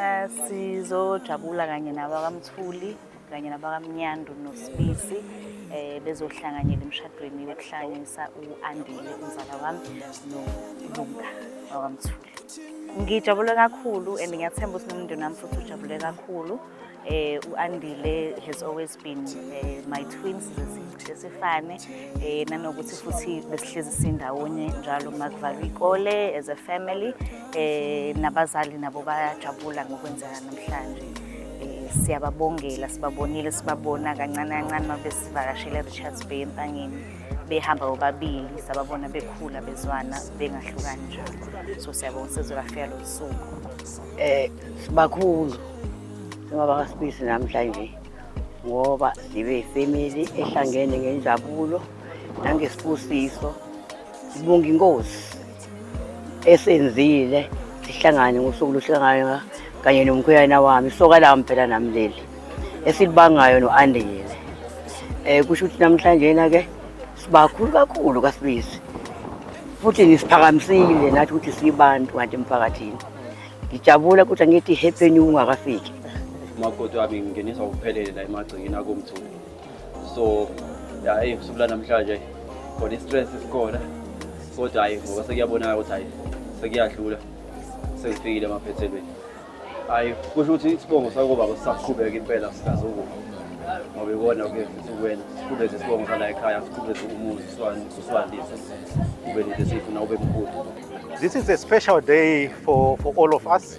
Eh, sizojabula kanye nabakamthuli kanye nabakamnyandu nosibisi eh bezohlanganyela emshadweni yokuhlangisa u-andile umzala wami nolunga wakamthuli Ngijabule kakhulu and ngiyathemba ukuthi nomndeni wami futhi ujabule kakhulu. Eh uAndile has always been eh, my twins sesifane eh nanokuthi futhi besihlezi sindawonye njalo makuvalwa ikole as a family eh nabazali nabo bayajabula ngokwenzeka namhlanje. Eh, siyababongela sibabonile sibabona kancane kancane mabesivakashele Richards Bay empangeni behamba bobabili sababona bekhula bezwana bengahlukani njalo so siyabonga usizo lafika lo suku eh bakhulu noma bakasibisi namhlanje ngoba sibe ifamily ehlangene ngenjabulo nangesibusiso sibonga inkosi esenzile sihlangane ngosuku luhlangana kanye nomkhuyana wami isoka lami phela nami leli esilibangayo no-andile um kusho ukuthi namhlanjena-ke sibakhulu kakhulu kasibisi futhi nisiphakamisile nathi ukuthi sibantu kanti emphakathini ngijabula ukuthi angithi happy new ungakafiki umakoti wami ngingenisa ukuphelele la emagcingeni akomthuli so hayi usuku lanamhlanje khona i-stress esikhona kodwa hayi ngoba sekuyabonakala ukuthi hayi sekuyadlula sekufikile emaphethelweni hayi kusho ukuthi isibongo sakobaba sisaqhubeka impela sikazokuba ngoba ikona ke futhi kuwena siqhubeze isibongo sala ekhaya siqhubeze umuzi siswandise ube nento esiyifuna ube mkhulu This is a special day for, for all of us.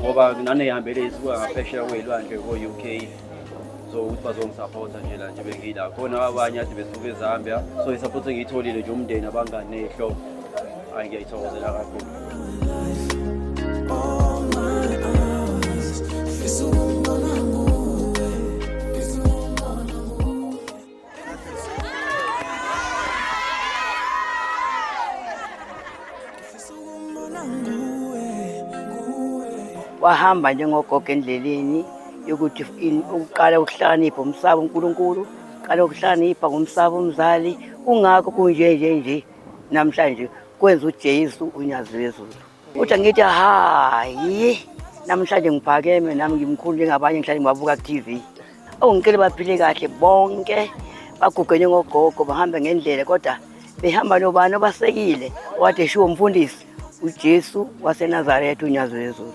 ngoba naneyihambele isuka ngaphesheya kweyilwandle ko-u k so ukuthi bazongisapotha nje la nje bengila khona abanye ade besuke ezambia so isapotha engiyitholile nje umndeni abangani neyihlobo hayi ngiyayithokozela kakhulu wahamba njengogogo endleleni yokuthi ukuqala ukuhlakanipha umsaba uNkulunkulu qala ukuhlakanipha ngomsaba umzali kungakho kunje nje nje namhlanje kwenza uJesu unyazi lwezulu Uthi angithi hayi namhlanje ngiphakeme nami ngimkhulu njengabanye ngihlale ngibabuka ku-TV. Oh ngicela baphile kahle bonke bagugene ngogogo bahambe ngendlela kodwa behamba nobani obasekile wathi eshiwo umfundisi uJesu waseNazaretha uNyazi weZulu.